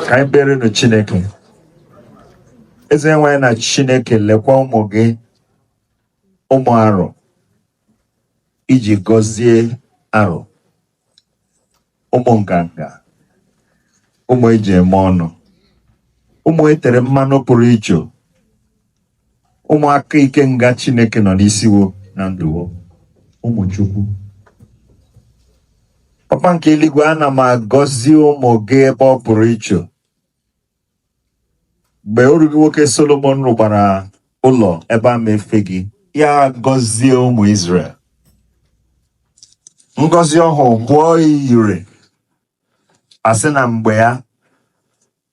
ka anyị kperenụ chineke eze nwe anyị na chineke lekwa ụmụ gị ụmụ arụ i ji gọzie arụ ụmụ nganga ụmụ e ji eme ọnụ ụmụ e tere mmanụ pụrụ iche ụmụ aka ike nga chineke nọ n'isi wo na ndụ wo ụmụ chukwu papa nke eluigwe ana m agọzi ụmụ gị ebe ọ pụrụ iche mgbe oru gị nwoke Solomon rụkwara ụlọ ebe a ma efe gị ya agọzie ụmụ Izrel ngọzi ọhụ bụọ ire a sị na mgbe ya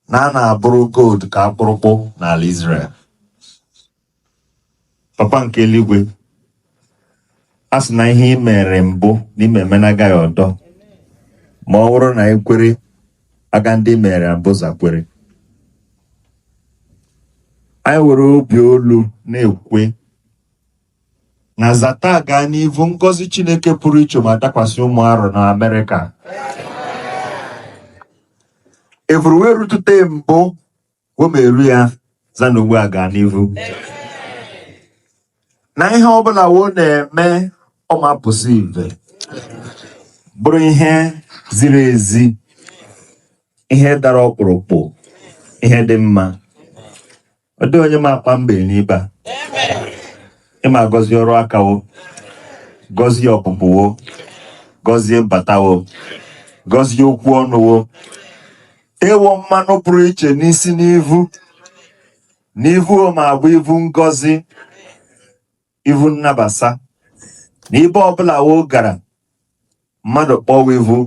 na a na-abụrụ gold ka akpụrụkpụ n'ala Izrel papa nke eluigwe a sị na ihe ị mere mbụ na ị ma eme na agaghị ọdọ ma ọ bụrụ na anyị kwere aga ndị mere mbụ za kwere anyị were obi olu na-ekwe na za taa gaa n'ivu ngọzi chineke pụrụ iche ma adakwasị ụmụ arụ na amerịka evuruwe rutute mbụ wo ma eru ya za n'ugbu a gaa n'ihu na ihe ọbụla wo na-eme ọ ma apụsa ive bụrụ ihe ziri ezi ihe dara ọkpụrụkpụ ihe dị mma ọ dịghị onye ma akpa mgbei n'ibe a ị ma agọzi ọrụ aka wo gọzie ọpụpụ wo gọzie mbata wo gọzie okwu ọnụ wo Ịwụ mmanụ pụrụ iche n'isi n'ivu n'ivu wo ma abụ ivu ngọzi ivu nnabasa na ibe ọbụla wo gara mmadụ kpọ wa ivu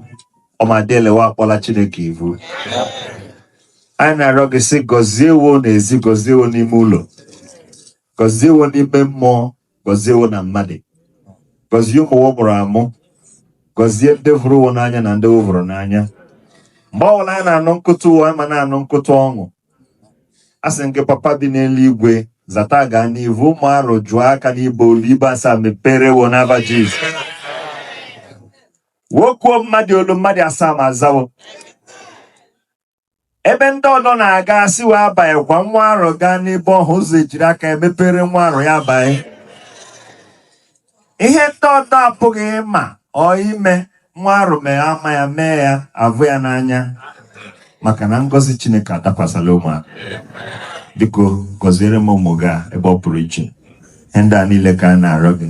ọ ma adị ele wa akpọla Chineke ivu anyị na-arịọ gị sị gọzie wo n'ezi gọzie wo n'ime ụlọ gọzie wo n'ime mmụọ gọzie wo na mmadụ gọzie ụmụ wo mụrụ amụ gọzie ndị hụrụ wo n'anya na ndị wo hụrụ n'anya mgbe ọbụla anyị na-anụ nkụtụ wo a ma na-anụ nkụtụ ọṅụ asị m gị papa bi n'eluigwe za taa gaa n'ivu ụmụ arụ kụọ aka n'ibe olu ibe asaa mepere wo n'ava Jizọs wo kuo mmadụ olu mmadụ asaa ma aza wo ebe ndị ọdọ na-aga a sị wo abaghịkwa nwa arọ gaa n'ebe ọhụ ụzọ ejiri aka emepere nwa arọ ya abaa ihe ndị ọdọ apụghị ịma ọ ime nwa arọ mee ama ya mee ya a vụ ya n'anya maka na ngọzi chineke adakwasala ụmụaka biko gọziere m ụmụ gị a ebe ọ pụrụ iche ihe ndị a niile ka a na-arịọ gị